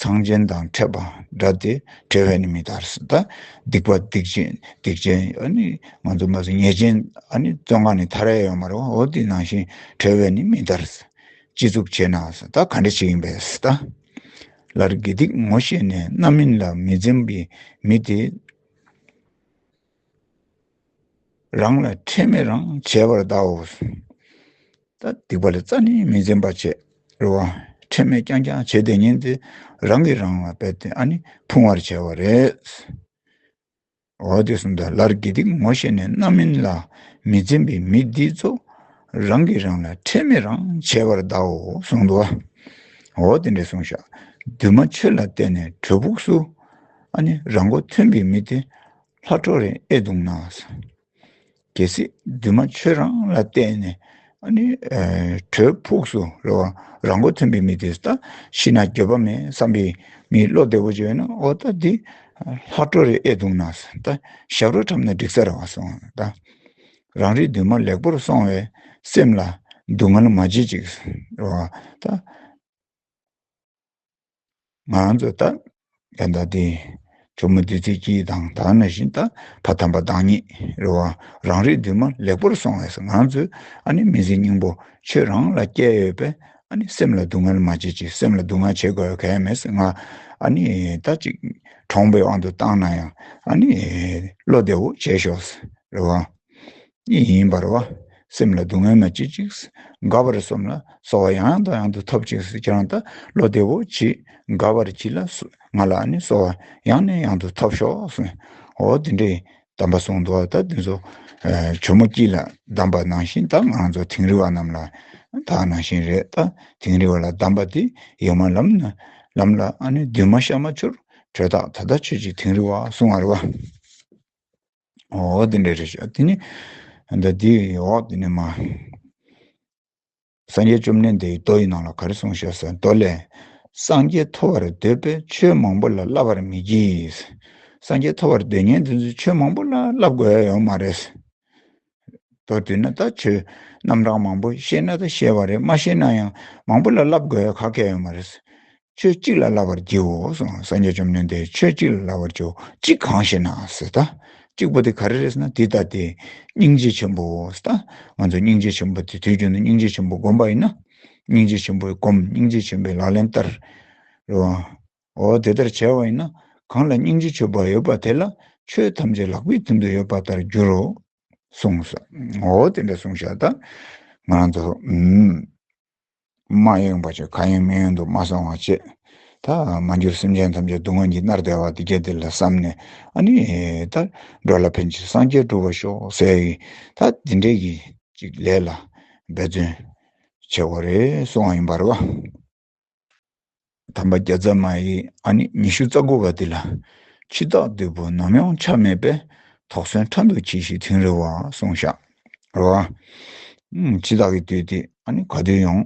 ཚངས་ཆེན་དང་ཕྲད་པ་འདྲ་སྟེ་བྲལ་བས་ནི་མི་ལྟར་སྲིད་ད། སྡིག་པ་སྡིག་ཅན་སྡིག་ཅན་ཨ་ནི་ང་ཚོ་མ་ཟིན་ཉེས་ཅན་ཨ་ནི་བཙོན་ཁང་ནས་ཐར་ཡ་ཡོད་མ་རེད་བ་འོ་དེ་ནང་བཞིན་བྲལ་བས་ནི་མི་ལྟར་སྲིད། སྤྱི་གཙུག་བྱས་ན་སྲིད་ད་ག་འདྲ་ཞིག་ཡིན་པས་སྲིད་ད། ལར་དགེ་སྡིག་ངོ་ཤེས་ནས་རྣམ་སྨིན་ལ་མི་འཛེམ་པའི་མི་དེ། རང་ལ་ཁྲེལ་མེད་རང་བྱས་པར་བལྟའོ། ད་སྡིག་པ་ལ་རྩ་ནས་མི་འཛེམ་པར་བྱེད་རོགས། ཁྲེལ་མེད་རྐྱང་རྐྱང་བྱེད་དེ་ཉིན་དེ་རང་གིས་རང་ལ་བལྟས་ཏེ་ཨ་ནི་ཕུང་བར་བྱས་བ་རེད། འོ་དེ་གསུམ་དང་ལར་དགེ་སྡིག་ངོ་ཤེས་ནས་རྣམ་སྨིན་ལ་མི་འཛེམ་པའི་མི་འདི་ཚོ་རང་གིས་རང་ལ་ཁྲེལ་མེད་རང་བྱས་པར་བལྟའོ་གསུངས་འདུག་ཨ། འོ་དེ་འདྲས་གསུངས་བཞག་འདུན་མ་ཆོས་ལ་བརྟེན་ནས་བྲོས་ཕུགས་སུ་ཨ་ནི་རང་མགོ་ཐོན་པའི་མི་དེ་ལྷ་འཕྲོག་རིན་ཨེ་འདུག་ན། གལ་སྲིད་འདུན་མ་ཆོས་རང་ལ་བརྟེན་ནས་དྲོད་ཕུགས་སུ་རོལ་བ་རང་མགོ་ཐོན་པའི་མི་དེ་ལྟ་ཤི་ན་འགྱོད་པ་མེད་བསམ་པའི་མིའི་བློ་བདེ་བོ་ཅིག་ཡོད་ན་ཨོ་ད་འདི་ལྷ་འཕྲོག་རིན་ཨེ་འདུག་ན་ད་ཞབས་རོ་འཁྲབ་ན་འགྲིག་ས་རེད་བ་སོང་ད་རང་རེའི་འདུན་མ་ལེགས་པོར་སོང་བས་སེམས་ལ་སྡུག་བསྔལ་མ་བྱེད་ཅིག་རེད་བ་ད། ང་ཚོས་ད་ལྟ་ད་ལྟའི་བུ་མོ་འདི་ཚོའི་སྐྱིད་དང་དག་སྣང་བཞིན་ད་ཕ་དམ་པ་བདག་ཉིད་རེད་བ་རང་རེའི་འདུན་མ་ལེགས་པོར་སོང་བས་ང་ཚོས་ཨ་ནི་མི་ཚེ་སྙིང་པོ་ཁྱོད་རང་ལ་བསྐྱལ་ཡོད་པས་ཨ་ནི་སེམས་ལ་སྡུག་བསྔལ་མ་བྱེད་ཅིག་སེམས་ལ་སྡུག་བསྔལ་བྱེད་དགོས་གལ་མེད་ཟེར་ང་ཨ་ནི་ད་ཅིག་གྲོངས་པའི་དབང་དུ་བཏང་ན་ཡང་ཨ་ནི་བློ་བདེ་བོ་བྱས་ཤོག་ཟེར་རེད་བ། ཉིད་ཡིན་པར་བ། སེམས་ལ་སྡུག་བསྔལ་མ་བྱེད་ཅིག། དགའ་བར་བསམས་ལ་སོ་བ་ཡང་ཡང་དང་ཡང་དུ་ཐོབ་ཅིག་ཅེས་ཀྱང་ད་ལོ་བདེ་བོ་གྱིས་དགའ་བར་གྱིས་ལ་ང་ལ་ནི་སོ་བ་ཡང་ནས་ཡང་དུ་ཐོབ་ཤོག་གསུངས། འོ་དེ་འདྲའི་དམ་པ་གསུང་དུ་ད་དེ་ཚོ་ཇོ་མོ་སྐྱིད་ལ་གདམས་པ་ནང་བཞིན་ད་ང་ཚོ་དིང་རི་བ་རྣམས་ལ་ད་ནང་བཞིན་རེད་ད་དིང་རི་བ་ལ་གདམས་པ་དེ་ཡོད་མ་ལམ་ན་ལམ་ལ་ནི་འདུན་མ་ཤར་མ་ཆུར་བྲོས་ད་ད་ད་ཁྱོད་ཀྱིས་དིང་རི་བ་གསུང་བར་བ། འོ་དེ་འདྲ་རེད་ཤོག་དེ་ནས་འདི་དེའི་འོག་དེ་ནས་མ་སངས་རྒྱས་བཅོམ་ལྡན་འདས་ཀྱིས་མདོ་ཡི་ནང་ལ་ག་རེ་གསུངས་ཤེས་ཟེར་མདོ་ལས། སངས་རྒྱས་ཐོབ་པར་འདོད་པས་ཆོས་མང་པོ་ལ་བསླབ་པར་མི་བགྱིད། སངས་རྒྱས་ཐོབ་པར་འདོད་ངན་འདི་ཚོས་ཆོས་མང་པོ་ལ་བསླབ་དགོས་ཡོད་མ་རེད། དོ་བསྡུས་ན་ད་ཆོས་རྣམ་གྲངས་མང་པོ་ཤེས་ན་ད་ཤེས་པ་རེད་མ་ཤེས་ན་ཡང་མང་པོ་ལ་བསླབ་དགོས་ཡ་ག་སྐད་ཡོད་མ་རེད། ཆོས་གཅིག་ལ་བསླབ་པར་བགྱིའོ་སང་སངས་རྒྱས་བཅོམ་ལྡན་འདས་ཆོས་གཅིག་ལ་བསླབ་པར་བགྱིའོ་གཅིག་གང་ཞེ་ན་ཟེར་ད། གཅིག་པོ་དེ་ག་རེ་རེད་ཟེར་ན་འདི་ལྟ་སྟེ། སྙིང་རྗེ་ཆེན་པོ་ཟེར་ད། ང་ཚོ་སྙིང་རྗེ་ཆེན་པོ་དེ་དུས་རྒྱུན་དུ་སྙིང་རྗེ་ཆེན་པོ་བསྒོམ་པ་ཡིན་ན། སྙིང་རྗེ་ཆེན་པོའི་སྒོམ་སྙིང་རྗེ་ཆེན་པོའི་ལག་ལེན་ལྟར། རེད་བ། འོ་དེ་ལྟར་བྱས་བ་ཡིན་ན་གང་ལ་སྙིང་རྗེ་ཆོས་འབའ་ཡོད་པ་དེ་ལ་ཆོས་ཐམས་ཅད་ལག་པའི་མཐུན་དུ་ཡོད་པ་ལྟར་འགྱུར་རོ། གསུངས་སོ། འོ་དེ་འདྲ་གསུངས་ཤག་དང། ང་རང་ཚོ། མ་ཡེངས་པ་ཆོས་གང་ཡང་མི་ཡོང་དུ་མ་སོང་བ་བྱས། ད་མ་འགྱུར་སེམས་ཅན་ཐམས་ཅད་སྡུག་བསྔལ་གྱིས་མནར་བདེ་བ་འདི་སྐད་འདི་ལ་བསམས་ནས་ཨ་ནི། ད་འགྲོ་ལ་ཕན་ཕྱིར་སངས་རྒྱས་བསྒྲུབ་པར་ཤོག་ཟེར་གི། ད་འདི་འདྲའི་གི་ཅིག་ལས་ལ་འབད་བརྩོན། བྱས་བ་རེད་གསུངས་བ་ཡིན་པར་བ། དམ་པ་བརྒྱ་རྩ་མ་ཡི་ཨ་ནི་ཉི་ཤུ་རྩ་དགུ་བ་འདི་ལ་འཆི་བདག་བདུད་པོ་ནམ་ཡང་ཆགས་མེད་པས་དོགས་ཟོན་ཕྲ་འདུག་གྱིས་ཤིག་དིང་རི་བ་སོང་བཞག་རོ། འཆི་བདག་གི་དུས་དེ་ཨ་ནི་ག་དུས་ཡོང་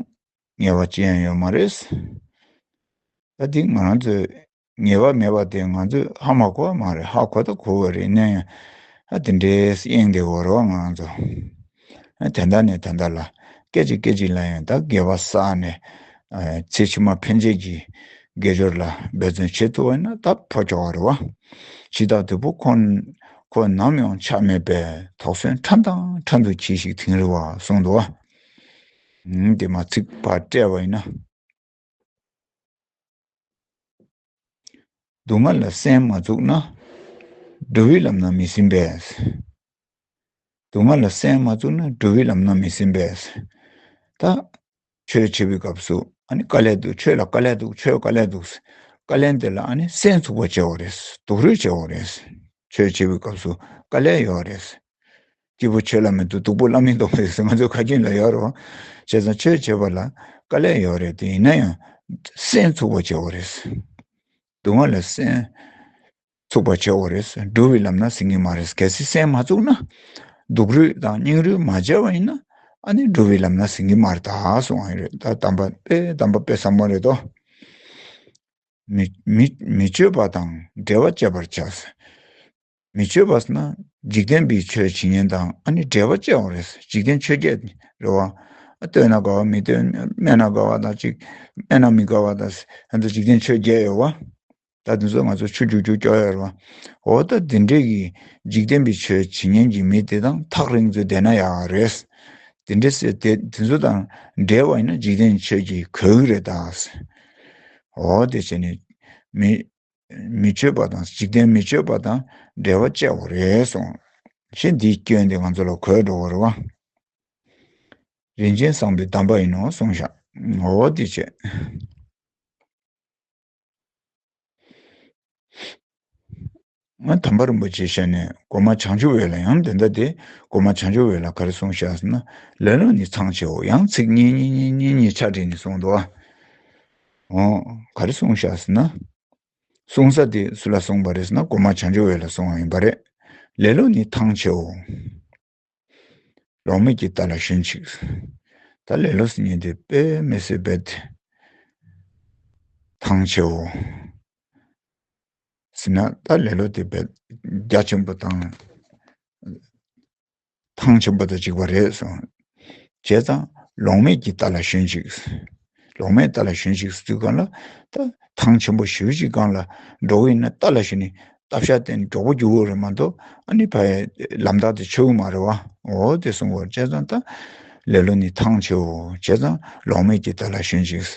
ངེས་བ་ཅི་ཡང་ཡོད་མ་རེད། ད་དེ་ང་རང་ཚོའི་ངེས་པ་མེད་པ་དེ་ང་ཚོས་ཧ་མ་གོ་བ་མ་རེད་ཧ་གོ་ད་གོ་བ་རེད་ནའི། ཨ་དེ་འདྲའི་གཡེང་དེ་བོར་བ་ང་ཚོ། དེ་འདྲ་ནས་དེ་འདྲ་ལ་སྐད་ཅིག་སྐད་ཅིག་ལ་ཡང་ད་འགལ་བ་བསགས་ནས། ཚེ་ཕྱི་མ་ཕན་ཆད་ཀྱི་དགེ་སྦྱོར་ལ་འབད་བརྩོན་བྱེད་ཐུབ་པ་ཡིན་ན་ད་ཕོ་ཁྱོ་བ་རེད་བ། ཕྱི་ཐག་དོད་པོ་ཁོ་ཁོ་ནམ་ཡང་ཆགས་མེད་པའི་དོགས་ཟོན་ཕྲན་དང་ཕྲན་དུ་གྱིས་ཤིག་དིང་རི་བ་གསུངས་འདུག་བ། དེ་མ་ཚིག་པར་བཀྲལ་བ་ཡིན་ན། སྡུག་བསྔལ་ལ་སེམས་མ་བཙུགས་ན། སྒྲོལ་བའི་ལམ་སྣང་མི་ཟིན་པས། སྡུག་བསྔལ་ལ་སེམས་མ་བཙུགས་ན་སྒྲོལ་བའི་ལམ་སྣང་མི་ཟིན་པས། ད་ཆོས་འཆད་པའི་སྐབས་སུ་དཀའ་ལས་འདུག་ཆོས་ལ་དཀའ་ལས་འདུག་ཆོས་དཀའ་ལས་འདུག་ཟེར། དཀའ་ལས་འདི་ལ་སེམས་འཚུབ་པོ་བྱེད་བ་རེད། སྡུག་རུས་བྱེད་བ་རེད། ཆོས་འཆད་པའི་སྐབས་སུ་དཀའ་ལས་ཡོད་རེད། སྐྱེས་བུ་ཁྱོད་ལ་མི་འདུག་སྡུག་པོ་བླ་མས་འདོགས་པ་ཡོད་ཟེར་ང་ཚོའི་ཁ་རྒྱུན་ལ་ཡོད་རོགས་བྱས་ཙང་ཁྱོད་བྱས་པ་ལ་དཀའ་ལས་ཡོད་རེད་དེ་ཡིན་ན་ཡང་སྲན་ཚུགས་པ་བྱས་འོ་རེད། སྡུག་བསྔལ་ལ་སྲན་ཚུགས་པ་བྱས་འོ་རེད་སྒྲུབ་བའི་ལམ་ན་ཟིན་ངེས་མ་རེད་གལ་སྲིད་སྲན་མ་ཚུགས་ན་སྡུག་རུས་དང་སྙིང་རུས་མ་བྱས་པ་ཡིན་ན་ཨ་ནི་སྒྲུབ་བའི་ལམ་ན་ཟིན་གི་མ་རེད་དྭགས་སུ་འང་རེད་ད་དམ་པ་དཔེ་དམ་པ་དཔེ་ཟབ་མོ་རེད་དོ། མི་མཆོད་པ་དང་འབྲེལ་བ་བཅད་པར་བྱ། མི་ཆོས་པ་ན་འཇིག་རྟེན་པའི་ཆོས་ཇི་སྙེད་དང་ཨ་ནི་འབྲེལ་བ་བཅས་བ་རེད། འཇིག་རྟེན་ཆོས་བརྒྱད་ནི་རེད་བ། བསྟོད་ན་དགའ་བ་མི་བསྟོད་སྨད་ན་དགའ་བ་དང་གཅིག་སྨད་ན་མི་དགའ་བ་དང། ཧན་དུ་འཇིག་རྟེན་ཆོས་བརྒྱད་ཡོད་བ། ད་དེ་ཚོ་ང་ཚོ་ཆུ་རྒྱུག་རྒྱུག་སྐྱོ་ཡོད་རེད་བ། འོ་ད་དེ་འདྲས་ཀྱི་འཇིག་རྟེན་པའི་ཆོས་ཇི་སྙེད་ཀྱི་མི་དེ་དང་ཐག་རིང་ཚོས་བསྡད་ན་ཡག་རེད། དེ་འདྲས་སེ་དེ་ཚོ་དང་འབྲེལ་བ་ཡིན་ན་འཇིག་རྟེན་ཆོས་ཀྱི་གོ་གི་རེད་ད། འོ་དེ་བྱས་ནས་མི། མི་ཆོས་པ་དང་འཇིག་རྟེན་མི་ཆོས་པ་དང་འབྲེལ་བ་བཅད་བོ་རེད་སོང། ཞེས་འདིའི་སྐྱོན་དེ་ང་ཚོ་ལ་གོས་འགྲོ་བར་བ། རིན་ཆེན་བཟང་པོའི་གདམས་པ་ཡིན་ནོ་གསུངས་ཤག་ངོ་བོ་དེ་བྱེད། ང་དམ་པ་རིན་པོ་ཆེ་ཞལ་ནས་སྒོ་མ་བྱང་ཆུབ་འོད་ལ་ཡང་འདི་འདྲ་དེ་སྒོ་མ་བྱང་ཆུབ་འོད་ལ་གར་གསུངས་ཤག་ཟེར་ན་ལེ་ལོ་ནི་ཚང་ཆེའོ་ཡང་ཚིག་གཉིས་གཉིས་གཉིས་གཉིས་གཉིས་ཆ་བྲིས་ནས་གསུངས་འདུག་ཨ། ག་རེ་གསུངས་བཞག་ཟེར་ན། གསུང་ས་དེ་སུ་ལ་གསུངས་པ་རེད་ཟེར་ན་སྒོ་མ་བྱང་ཆུབ་འོད་ལ་གསུངས་བ་ཡིན་པ་རེད། ལེ་ལོ་ནི་ཐང་ཆེའོ། ལོང་མེད་ཀྱི་རྟ་ལ་ཞོན་ཅིག། ད་ལེ་ལོ་ཟེར་ཉིན་དེ་དཔེ་མེད་སེ་དཔེ་དེ་ཐང་ཆེའོ། ཟེར་ན་ད་ལེ་ལོ་དེ་བརྒྱ་ཆེན་པོ་དང། ཐང་ཆེན་པོ་དང་གཅིག་པ་རེད་གསུངས། བྱས་ཙང་ལོང་མེད་ཀྱིས་རྟ་ལ་ཞོན་ཅིག། ལོང་མེད་རྟ་ལ་ཞོན་ཅིག་ཟེར་དུས་གང་ལ་ད་ཐང་ཆེན་པོ་ཞུ་ཅིག་གང་ལ་འགྲོ་གི་ཡིན་ན་རྟ་ལ་ཞོན་ནས་རྟ་ཕྱག་བསྟན་མགྱོགས་པོ་རྒྱུག་གི་རེད་མ་གཏོགས་ཨ་ནི་ཕ་ཡ་ལམ་ཐག་དེ་ཆོད་གི་མ་རེད་བ་འོ་དེ་གསུངས་པར་བྱས་ཙང་ད་ལེ་ལོ་ནི་ཐང་ཆེ་འོ་བྱས་ཙང་ལོང་མེད་ཀྱིས་རྟ་ལ་ཞོན་ཅིག། བྱས་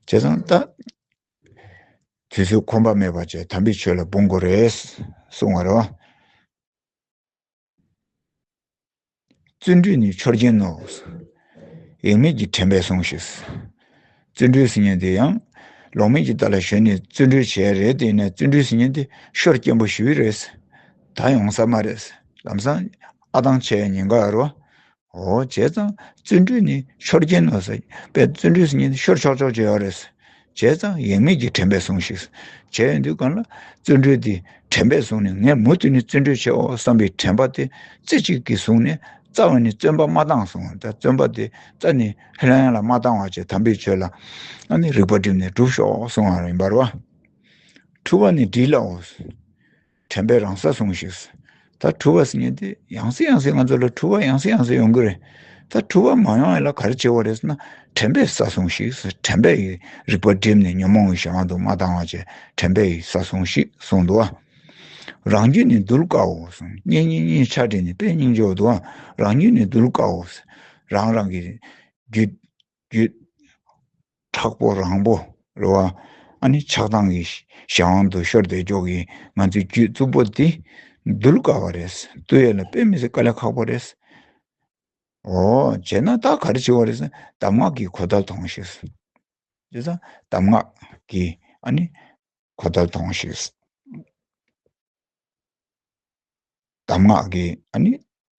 ཙང་ད་དུས་ཚོད་ཁོམ་པ་མེད་པ་བྱས་དམ་པའི་ཆོས་ལ་འབུངས་དགོས་རེད་གསུངས་བ་རེད་བ། བརྩོན་འགྲུས་ནི་ཆོས་ཅན་ནོ། ཡེངས་མེད་ཀྱི་དྲན་པས་སོང་ཞིག། བརྩོན་འགྲུས་ཟིན་ཉེན་དེ་ཡང་ལོག་མེད་ཀྱི་རྟ་ལ་ཞོན་ནས་བརྩོན་འགྲུས་བྱས་རེད་དེ་ཡིན་ན་བརྩོན་འགྲུས་ཟིན་ཉེན་དེ་ཤོར་སྐྱེན་པོ་ཞི་བི་རེད། ད་ཡོང་ས་མ་རེད། ལམ་སང་ཨ་ཐང་ཆད་ཉེན་ཁ་རུ། འོ་བྱས་ཙང་བརྩོན་འགྲུས་ནི་ཤོར་རྐྱེན་ནོ། བྱས་པས་བརྩོན་འགྲུས་སུ་ཉིད་ཤོར་ཆོག་ཆོག་བྱས་བ་རེད། བྱས་ཙང་ཡེངས་མེད་ཀྱི་དྲན་པས་ཟུངས་ཤིག། བྱས་ཡོད་དུས་གང་ལ་བརྩོན་འགྲུས་དེ་དྲན་པས་བཟུང་ནས་ངས་མུ་མཐུད་ནས་བརྩོན་འགྲུས་ཆེའོ་བསམ་པའི་དྲན་པ་དེ་རྩེ་གཅིག་གིས་བཟུང་ནས་རྩ་བ་ནས་བརྩོན་པ་མ་བཏང་སོང་བ་དང་བརྩོན་པ་དེ་རྩ་ནས་ཧི་ལང་ཡང་ལ་མ་བཏང་བ་བཅས་དམ་པའི་ཆོས་ལ་ནི་རིགས་པ་བསྒྲིམས་ནས་བསྒྲུབས་ཤོག་གསུངས་བ་རེད་འབར་བ་འཁྲུལ་བ་ནི་བསྒྲིལ་ལ་འོས། དྲན་པའི་རང་ས་ཟུངས་ཤིག། ད་འཁྲུལ་བ་ཟིན་ཏེ་ཡང་སྲིད་ཡང་སྲིད་ང་ཚོ་ལ་འཁྲུལ་བ་ཡང་སྲིད་ཡང་སྲིད་ཡོང་གི་རེད། ད་འཁྲུལ་བ་མ་ཡོང་ཡ་ལ་ག་རེ་བྱེད་དགོས་རེད་ཟེར་ན་དྲན་པའི་ས་ཟུངས་ཤིག་དྲན་པས་ཡི་རིག་པ་བསྒྲིབས་ནས་ཉོན་མོངས་ཡི་ཞེ་བ་དུ་མ་ལྡང་བ་བྱས་དྲན་པས་ཡི་ས་ཟུངས་ཤིག་གསུངས་འདུག་ཨ། རང་རྒྱུད་ནི་གདུལ་དཀའ་འོ། སྙིང་སྙིང་སྙིང་ཆ་དྲིལ་ནས་དཔེ་སྙིང་འཇོག་འདུག་ཨ། རང་རྒྱུད་ནི་གདུལ་དཀའ་འོ། རང་རང་གི་རྒྱུད། རྒྱུད། དྲག་པོ་རང་པོ་རེད་བ། ཨ་ནི་ཆགས་སྡང་གི་གཞན་དབང་དུ་ཤོར་དེ་ཅོག་གིས་ང་ཚོའི་རྒྱུད་རྩུབ་པོ་འདི་འདུལ་དཀའ་བ་རེད། བསྟོད་ཡས་ལ་དཔེ་མི་སྲིད་དཀའ་ལས་ཁག་པོ་རེད། ཨོ། བྱས་ན་ད་ག་རེ་བྱེད་བ་རེད། གདམས་ངག་གིས་གོ་ཐབས་དོང་ཤིག། ཅེས་ས། གདམས་ངག་གིས་ཨ་ནི་གོ་ཐབས་དོང་ཤིག། གདམས་ངག་གིས་ཨ་ནི་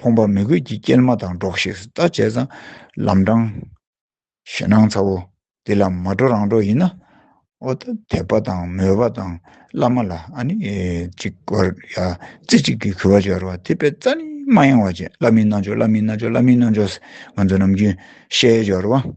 ཕོངས་པ་མི་དགོས་ཀྱི་སྐྱེལ་མ་དང་འགྲོགས་ཤིག་ལྟ་བྱས་ཙང་ལམ་འབྲང། ཞེད་སྣང་ཚ་བོ་འདི་ལ་མ་འགྲོ་རང་འགྲོ་ཡིན་ན། ཨོ་ད་དད་པ་དང་མོས་པ་དང་བླ་མ་ལ་ཨ་ནི་ཅིག་དགོས་ཡ་རྩེ་གཅིག་གིས་གུས་པ་བྱེད་རོགས་དེ་པད་རྩ་ནི་མ་ཡེངས་བ་བྱེད་བླ་མའི་རྣལ་འབྱོར་བླ་མའི་རྣལ་འབྱོར་བླ་མའི་རྣལ་འབྱོར་ང་ཚོ་ནམ་རྒྱུན་བཤད་ཡོད་རེད་བ།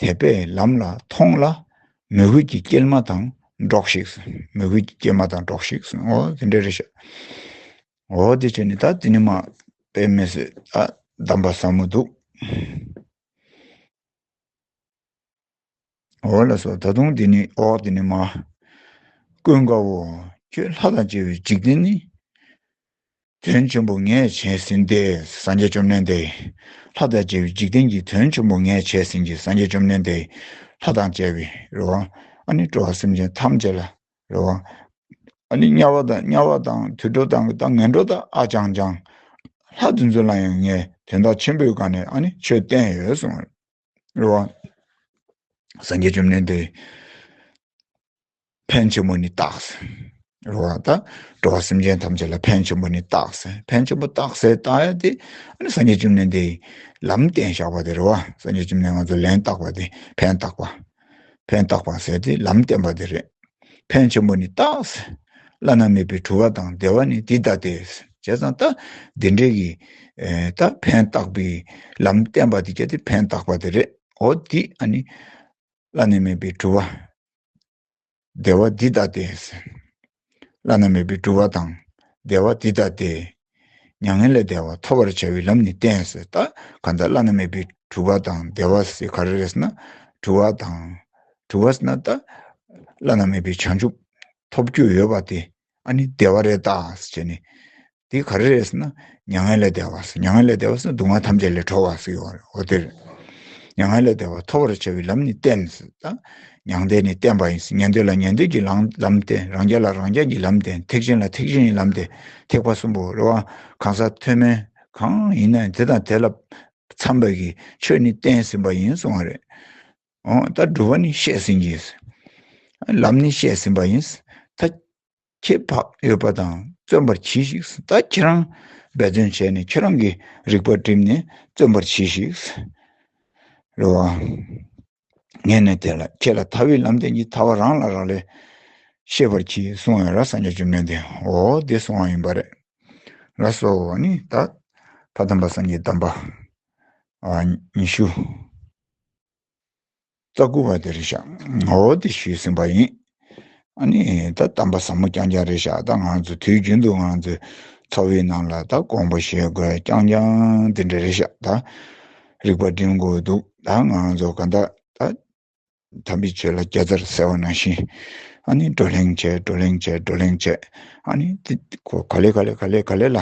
དད་པས་ལམ་ལ་མཐོང་ལ་མོས་གུས་ཀྱི་སྐྱེལ་མ་དང་འགྲོགས་ཤིག། མོས་གུས་ཀྱི་སྐྱེལ་མ་དང་འགྲོགས་ཤིག། ཨོ། དེ་འདྲ་རེད་ཤག། ཨོ་དེ་བྱས་ནས་ད་དེ་ནས་མ་དཔེ་མེད་ཟོས་ད་གདམས་པ་ཟབ་མོ་འདུག། ཨོ་ལ་སོགས་ད་དུང་དེ་ནས་ཨོ་དེ་ནས་མ། ཀུན་དགའ་བོ། ཁྱོད་ལྷ་དང་བཅས་པའི་འཇིག་རྟེན་ནི། དོན་ཆེན་པོ་ངས་བྱས་ཟིན་ཏེ་སངས་རྒྱས་བཅོམ་ལྡན་འདས་ལྷ་དང་བཅས་པའི་འཇིག་རྟེན་གྱི་དོན་ཆེན་པོ་ངས་བྱས་ཟིན་གྱི་སངས་རྒྱས་བཅོམ་ལྡན་འདས་ལྷ་དང་བཅས་པའི་རེ་བ་ཨ་ནི་སྤྲོ་བ་སེམས་ཅན་ཐམས་ཅད་ལ་རེ་བ་ཨ་ནི་དམྱལ་བ་དང་དམྱལ་བ་དང་དུད་འགྲོ་དང་གི་དང་ངན་འགྲོ་དང་ཨ་ཅང་ཅང། ལྷ་དེ་ཚོ་ལ་ཡང་ངས་དོན་དག་ཆེན་པོའི་སྒང་ནས་ཨ་ནི་ཆོས་བསྟན་ཡོད་གསུངས། གླུ་བ། སངས་རྒྱས་བཅོམ་ལྡན་འདས། ཕན་ཆེན་པོ་ནི་རྟགས། གླུ་བ་དང། འགྲོ་བ་སེམས་ཅན་ཐམས་ཅད་ལ་ཕན་ཆེན་པོ་ནི་རྟགས། ཕན་ཆེན་པོ་རྟགས་སེ་རྟགས་ཡ་དེ། སངས་རྒྱས་བཅོམ་ནན་འདས། ལམ་བསྟན་བཞག་པ་དེ་རོ། སངས་རྒྱས་བཅོམ་ནན་ང་ཚོ་ལན་བཏགས་པ་དེ་ཕན་བཏགས་པ། ཕན་བཏགས་པ་ཟེར་ཏེ་ལམ་བསྟན་པ་དེ་རེད། ཕན་ཆེན་པོ་ནི་བཏགས། བླ་ན་མེད་པའི་གྲུབ་བ་དང་བདེ་བ་ནི་འདི་ལྟ་སྟེ། བྱས་ཙང་ལྟ། འདི་འདྲའི་གི། ལྟ། ཕན་བཏགས་པའི། ལམ་བསྟན་པ་དེ་སྐྱེ་སྟེ་ཕན་བཏགས་པ་དེ་རེད། འོ་དེ་ཨ་ནི། བླ་ན་མེད་པའི་གྲུབ་བ། བདེ་བ་འདི་ལྟ་སྟེ། བླ་ན་མེད་པའི་སྤྲུལ་བ་དང་བདེ་བ་འདི་ལྟ་སྟེ། མྱ་ངན་ལས་བདེ་བ་ཐོབ་པར་བྱ་བའི་ལམ་ནི་བསྟན་ཟེར་ལྟ་གང་ལྟར་བླ་ན་མེད་པའི་སྤྲུལ་བ་དང་བདེ་བ་སེ་ག་རེས་ན་སྤྲུལ་བ་དང། སྤྲུལ་བ་སེ་ན་ལྟ་བླ་ན་མེད་པའི་བྱང་ཆུབ་ཐོབ་རྒྱུ་ཡོད་པ་དེ་ཨ་ནི་བདེ་བ་རེད་ད་བྱས་ནས། དེ་ག་རེ་རེད་ཟེར་ན། མྱ་ངན་ལས་བདེ་བ་ཟེར། མྱ་ངན་ལས་བདེ་བ་ཟེར་ན་སྡུག་བསྔལ་ཐམས་ཅད་ལས་གྲོལ་བ་ཟེར་གྱི་ཡོད་རེད། འོ་དེར། མྱ་ངན་ལས་བདེ་བ་ཐོབ་པར་བྱ་བའི་ལམ་ནི་བསྟན་ཟེར་ད། མྱང་འདས་ནི་བསྟན་པ་ཡིན་ཟེར་ཉན་འདོད་ལ་ཉན་འདོད་ཀྱི་ལམ་བསྟན་རང་རྒྱལ་ལ་རང་རྒྱལ་གྱི་ལམ་བསྟན་ཐེག་ཆེན་ལ་ཐེག་ཆེན་གྱི་ལམ་བསྟན་ཐེག་པ་གསུམ་པོ་རེད་བ་གང་ཟག་མཐོན་དམན་གང་ཡིན་ན་དེ་དང་དེ་ལ་འཚམས་པའི་ཆོས་ནི་བསྟན་ཟིན་པ་ཡིན་གསུང་བ་རེད། ད་སྒྲུབ་པ་ནི་བཤད་ཟིན་གྱི། ལམ་ནི་བཤད་ཟིན་པ་ཡིན། ད་ཁྱེད་བག་ཡོད་པ་དང་བརྩོན་པར་གྱིས་ཤིག། ད་ཁྱེད་རང་འབད་བརྩོན་བྱས་ནས་ཁྱེད་རང་གི་རིག་པ་བསྒྲིམས་ནས་བརྩོན་པར་གྱིས་ཤིག། རེ་བ། ངས་ནི་དེ་ལ་ཁྱེད་ལ་ཐར་བའི་ལམ་བསྟན་གྱི་ཐར་བ་རང་ལ་རག་ལས། ཤེས་པར་གྱིས་གསུང་བས་ར་ས་ཉོ་ཅོ་མེད་དེ་འོ་དེ་གསུང་བ་ཡིན་པ་རེད། ར་ས་འོ་ནི་ད་ཕ་དམ་པ་སངས་རྒྱས་དམ་པ། ཉི་ཤུ། རྩ་དགུ་བ་དེ་རེད་ཤག་ངའོ་དེ་ཞུས་ཟིན་པ་ཡིན། ཨ་ནི་ད་གཏམ་པ་ཟབ་མོ་རྐྱང་རྐྱང་རེད་ཤག་ད་ང་ཚོ་དུས་རྒྱུན་དུ་ང་ཚོའི་ཚོགས་བྷི་རྣམས་ལ་ད་དགོངས་པ་བཞེས་དགོས་རྐྱང་རྐྱང་དེ་འདྲ་རེད་ཤག་ད་རིག་པ་འགྲིམ་དགོས་འདུག་ད་ང་ཚོ་ག་འདྲ་ད་དམ་པའི་ཆོས་ལ་རྒྱ་རྩར་ཟེར་བ་ནང་བཞིན་ཨ་ནི་བགྲོ་གླེང་བྱས་བགྲོ་གླེང་བྱས་བགྲོ་གླེང་བྱས་ཨ་ནི་ག་ལེ་ག་ལེ་ག་ལེ་ག་ལེ་ལ་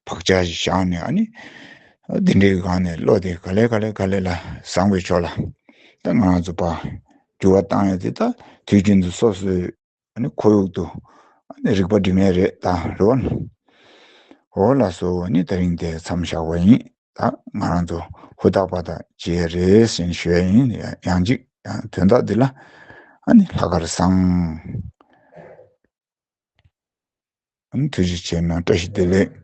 བག་ཆགས་ཤིག་བཞག་ནས་ཨ་ནི་འདི་འདྲའི་སྒང་ནས་བློ་དེ་ག་ལེ་ག་ལེ་ག་ལེ་ལ་བཟང་བའི་ཕྱོགས་ལ་ད་ང་ཚོ་པ་འགྱུར་བ་བཏང་ཡོད་དེ་ད་དུས་རྒྱུན་དུ་སོ་སོའི་ཁོར་ཡུག་ཏུ་རིག་པ་སྒྲིག་མེད་རེད་ད་རོ། འོ་ལ་སོ་ནི་ད་རིང་དེ་མཚམས་བཞག་པ་ཡིན་ད་ང་རང་ཚོ་ཧུར་ཐག་པ་ད་ཇེ་རེས་ཞན་ཤོས་ཡིན་ཡང་ཅིག་ཡང་དོན་དག་འདི་ལ་ལྷག་གར་བཟང། ཐུགས་རྗེ་ཆེ་ན་བཀྲ་ཤིས་བདེ་ལེགས།